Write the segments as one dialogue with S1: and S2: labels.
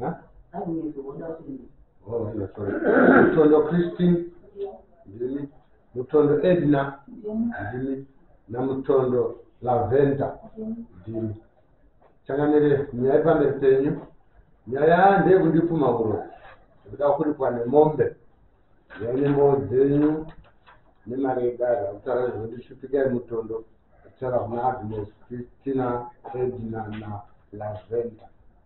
S1: Huh? That means you want us to be. Oh, no, sorry. Mutondo Christine, ndimi. Mutondo Edna, ndimi. Na Mutondo Lavenda, ndimi. Changanire nyaya pamberi penyu. Nyaya ndeyekundipfuma uroyi. Ndikuda kuripwa nemombe. Nyaya nembowo dzenyu nemari yedare. Akutaura zvekundishupikai mutondo. Akutaura kuna Agnes, Christina, Edna na Lavenda.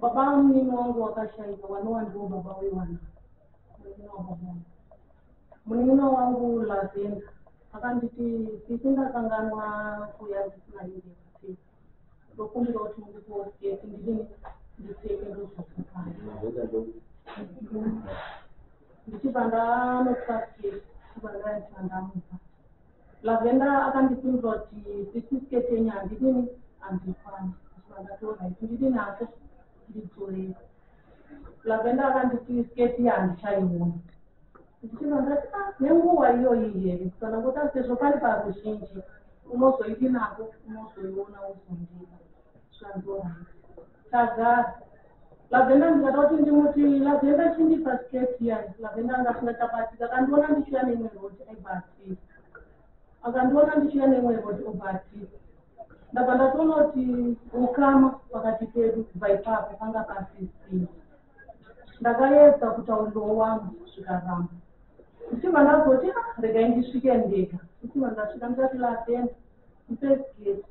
S2: Baba vamunini wangu wakashaika wanowa ndiwo baba wevana munin'ina wababa wangu. Munin'ina wangu Lavenda akanditi sisi ndakanganwa kuya ndisina hembe yekuti ndokumbira kuti mundipowo sketi ndidini ndipfeke ndozosukana. Lavenda ndo Ndichibva ndanotora sketi ndichibva ndaita ndamupa. Lavender akandisunza kuti sisi skirt yenyu handidini handikwana ndichibva ndati orit ndidi nacho ndidzorei Lavender akanditi skirt iya handichaiona ndichibva ndati a ah, nenguva iyoyi here kana kuti sezvo pari paruzhinji unozoidi nako unozoiona uzondida zvanzi orit tagara Lavenda ndikada kuti ndimuti Lavenda chindipa skirt yan Lavenda anga asina chabatika akandiona ndichiuya neimwe road aibva ati akandiona ndichiuya neimwe road obva ati ndabva ndatoona kuti ukama pakati pedu kubva ipapo panga pasisii ndakayedza kutaurirowo wangu zvikaramba ndichibva ndazoti ah, regai ndisvike ndega ndichibva ndasvika ndikati Lavenda First gate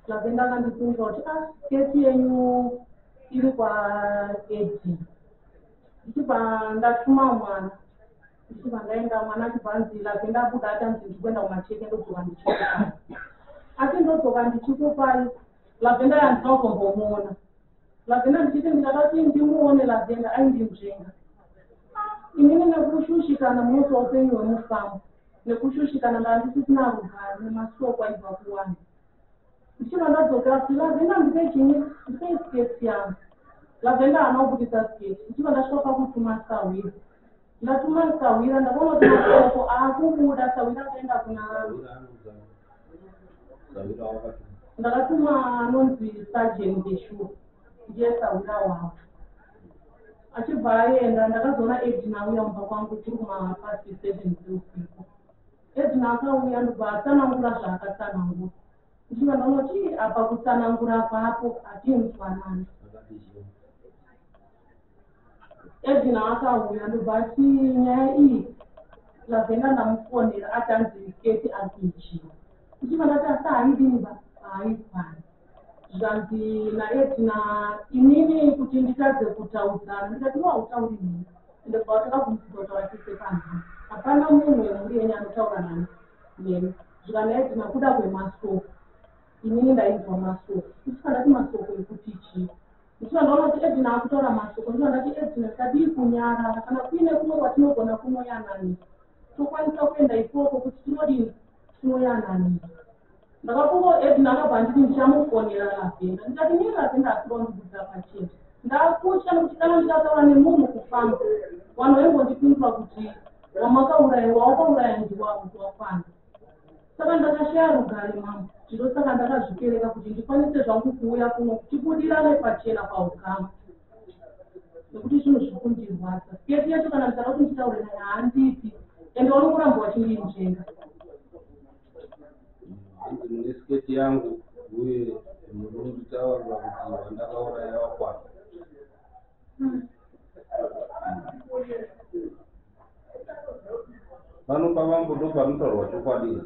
S2: zvake ndakandibvunza kuti ah gate yenyu iri kwaedi ndichibva ndatuma mwana ndichibva ndaenda mwana achibva anzi lake ndabuda atanzi ndikuenda kumacheke ndodzoka ndichikupai asi ndodzoka ndichikupai lavenda yandina kuzombomuona lavenda ndichiti ndikada kuti ndimuone lavenda aindinzvenga inini nekushushikana munosi waupenyu hwemufambo nekushushikana ndaandisisina rugare nemashoko aibva kuwani ndichibva ndadzoka kuti lavenda ndipe chini ndipe sketi yangu lavenda haana kubudisa sketi ndichibva ndasvika pakutuma sahwira ndatuma sahwira ndakaona kuti mashoko aakubuda sahwira akaenda kuna ndakatuma anonzi sajeni ndeshuwa ndiye sahwira wavo achibva aenda ndakazoona edina auya kumba kwangu tiri kumahalf past seven dzeusiku edina akauya ndobva atsanangura zvaakatsanangura ndichibva ndanoti apa kutsanangura papo hatinzwanani edina akauya ndobva ati nyaya iyi lavenda ndamufonera atanzi keti akuichiwa ndichibva ndati asi haidini ba haifani zvanzi naEtna inini kuti nditadze kutaudzana ndikati wahutauri nini ende kubva watanga kumusika kutaura tese panzi hapana munhu wemhuri yenyu anotaura nani neni zvikanzi naEtna kuda kwemasoko inini ndainzwa masoko ndisika ndati masoko ekuti chii ndisika ndaona kuti Edna akutaura masoko ndisika ndati Edna tadii kunyarara kana kuine kumwe kwatinogona kunoyanani tokwanisa kuenda ikoko kuti tinodini tinoyananira ndakafunga kuti edna akabva anditi ndichamufonera lavenda ndikati nei lavenda asiri wandibudira pachena ndakutya nekuti kana ndikataura nemunhu kufamba vanhu vaimbondipindura kuti wamakauraya wawakauraya ndiwavo wakwana saka ndakashaya rugare mambo zvino saka ndakazvipereka kuti ndikwanise zvangu kuuya kuno tibudirane pachena paukama nekuti zvinhu zviri kundirwadza sketi yacho kana ndikada kuti nditaure naye haandipi ende wanokuramba wachindinzvenga
S1: hanzi mune sketi yangu uye muri kunditaurira kuti vandakauraya vakwana pano pavambo ndopanotaurwa chokwadi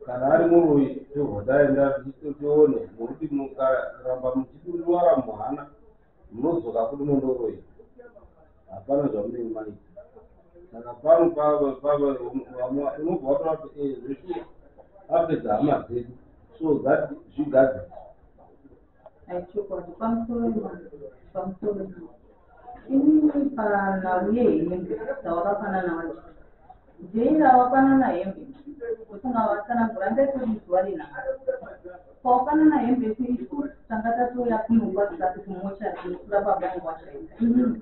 S1: kana ari muroyi tobva taenda tione nokuti mukaramba muchidurivara muhana munodzoka kuti mondoroyi hapana zvamunenge maita saka pano unobva wataura kuti eh, zvese apedza hama dzedu so that zvigadzisa
S2: Aichokwadi pamusoro ima pamusoro ima inini panhau yehembe dzawakafanana wacho jaira wafanana hembe usinga watsanangura ndaitoti zuva renhaka kwawafanana hembe isu isu tanga tatouya kunongwa tisati kumocha tinokura pabangu wacho inini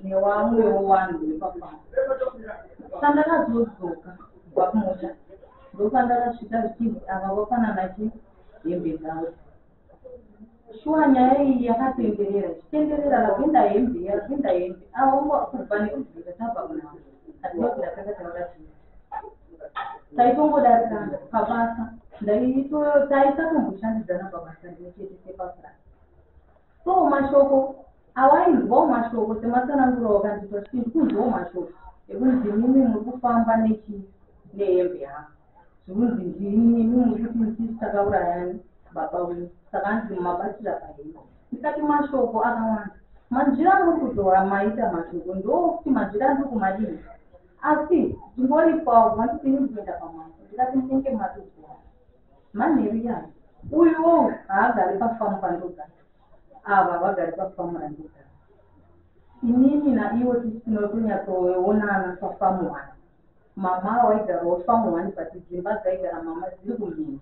S2: newamwewo wanhu wepafamba sandakazodzoka kubva kumocha ndopandakasvika zvichinzi ava wafanana chii hembe dzavo shuwa nyaya iyi yakatenderera ichitenderera rapinda hembe yarapinda hembe aongo kubva nekuzvinza tabva kunhamo hatinozi ratanga tauda chii taitongodarirana pabasa taisatomboshanidzana pabasa rimwe chete sepafurasi so mashoko awainzwawo mashoko sematsananguro wakanditwa chii kunzwawo mashoko ekunzi mimi muri kufamba nechii nehembe yangu zvinonzi ndini mumututi ndisisi takaurayani baba uyu saka anzi mumabatira pahino isati mashoko akawanda manzvira amuri kutora maita mashoko ndookuti manzvira andiri kumadini asi ndingoripwawo vandipini ndikuenda pamwana ndikati munenge matozoa manheru yani uyuwo haagari pafamu pandogara ava vagari pafamu randogara inini naiwo tisina kunyatsoonana pafamu hwana Mama awo aigarawo farm one but dzimba dzaigara mama dziri kumhiri.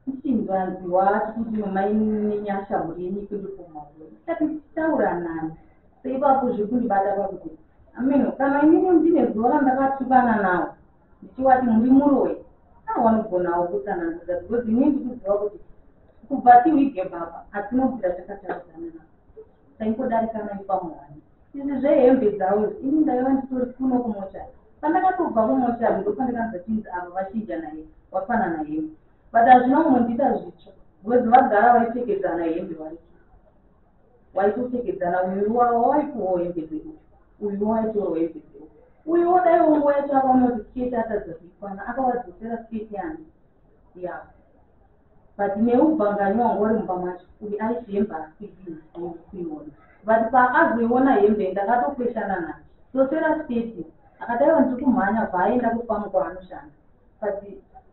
S2: Tichinzwanziwa tichiti mama inenyasha mhuri yenyu ikundipumha uyo. Ndikati ndichitaura nani? Seipapo zvekundibata pakuti ameno kana inini ndine zuva randakatukana nawo ndichiwati muri muroyi aa wanogonawo kutsanangudza because inini ndikuziva kuti kubva tiwige baba hatinobvira takataudzana navo taingodarikana ifamuhani Izvi zvehembe dzauyo ini ndaiva nditori kuno kumochari pandakatobva kumochari ndopandakanzwa chinzi avo vachinja naye vafanana hembe but hazvina kumbondiita zvitsva bcoz vagara vaipfekedzana hembe vaiti waitopfekedzana uyu wavo waitowo hembe dzeuyu uyu waitoro hembe dzeuyu uyu wodaiwo nguva yacho akaona kuti sketi atadza kuikwana akavadzosera sketi yangu yavo But newe bangani wanga uri mumba macho uyu aiti hembe haasidi kuiona but paakazoiona hembe ndakatokweshana naye sosera steti akadaiwa ndiri kumhanya bva aenda kufamu kwaanoshanda but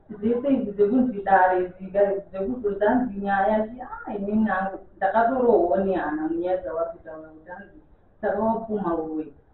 S2: zvese izvi zvekunzi dare zika zvekuzozanzi nyaya ti a ah, inini nangu ndakatorohwa nehana munyaya dzawakutaura kuti anzi saka wapfuma uwe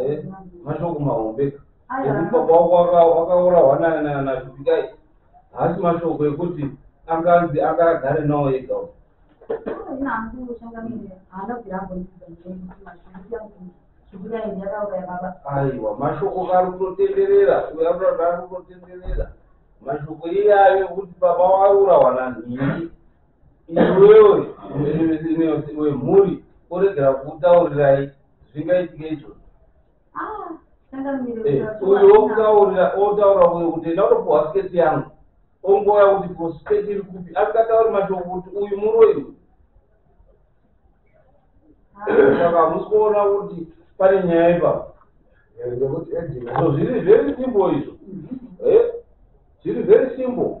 S2: Eh, mashoko mahombe
S1: ekuti baba wako waka- wakaurawa na- na- nazvipikai haasi mashoko ekuti anganzi anga agare nawo ega uyu. aiwa mashoko ari kutotenderera uyo anotaura ari kutotenderera mashoko iyayo ekuti baba wakaurawa nanhingi Iwewe musimbisineusi wemhuri oregera kukutaurirai zvingaitika izvozvo. Ah, eh, uyo okutaurira otaura uyo kuti enda unopuhwa sketi yangu ongoya kuti ko sketi iri kupi asingatauri mashoko kuti uyu muroi uyu ah. saka hamusi kuona kuti pane nyaya ipapo eh, so zviri very simple izvo eh, zviri very simple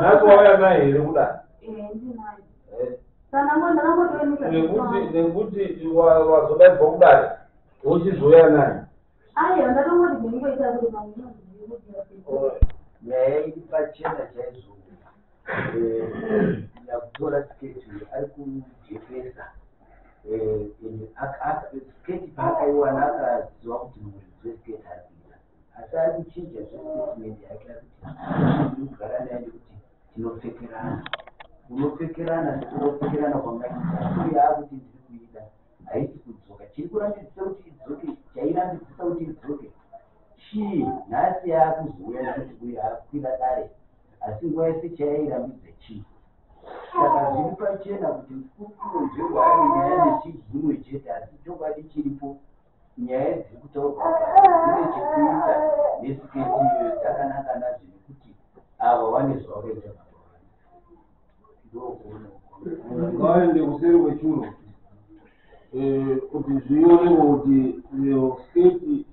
S1: nhasi wauya naye here
S2: kudai
S1: nekuti wazodaigwa kudai wochizouya naye
S3: nyaya iri pachena chaizoo yakutora eh, sketi ari kujekesa eh, sketi paakaiwana akaziva kuti muridzi wesketi ari kuita asi ari kuchinja zvestatement yake ari kuti iri kugara naye nekuti tinopfekerana unopfekerana sekunopfekerana kwangaita uye akuti ndiri kuida haisi kudzoka chiri kurambidzisa kuti idzoke chairambidzisa kuti idzoke chii nhasi yaakuzouya nekuti uye akukwira dare Asi nguva yese chaya irambidza chief. Saka zviri pachena kuti mukuru Nzvengwa ane nyaya nechief Zunwe chete asi chokwadi chiripo nyaya dziri kutaurwa apa dzine chekuita nesiketi iyoyo dzakanaka nazvo nekuti ava wane zvavakaita
S1: ngaende kuseri kwechuro eh, kuti zvionekwa kuti eh, sketi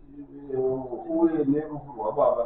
S1: eh, uye nerufu rwababa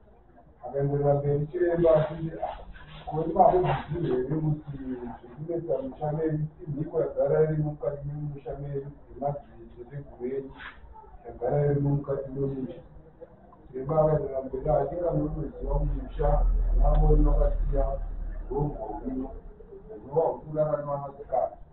S4: Akaenderera mberi chiremba achiti, Ko imomo muchiziva here kuti zvekunetsa musha medu imhiko yagara irimo mukati memusha medu nemadziteteguru edu yagara irimo mukati memusha. Chiremba akaenderera mberi achiti, Inga munotoziva kuti musha wamamoni wakasiya hongu hwino hunova husingararamwe navanasikana.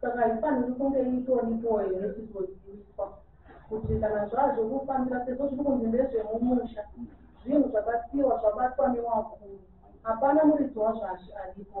S4: saka haifaniri kunge itoripo here tizoziviswa kuti kana zvazvo kufambira sezvo zviri kunzi ndezvemumusha zvinhu zvakasiyiwa zvabatwa newakuru hapana muridzi wazvazvi aripo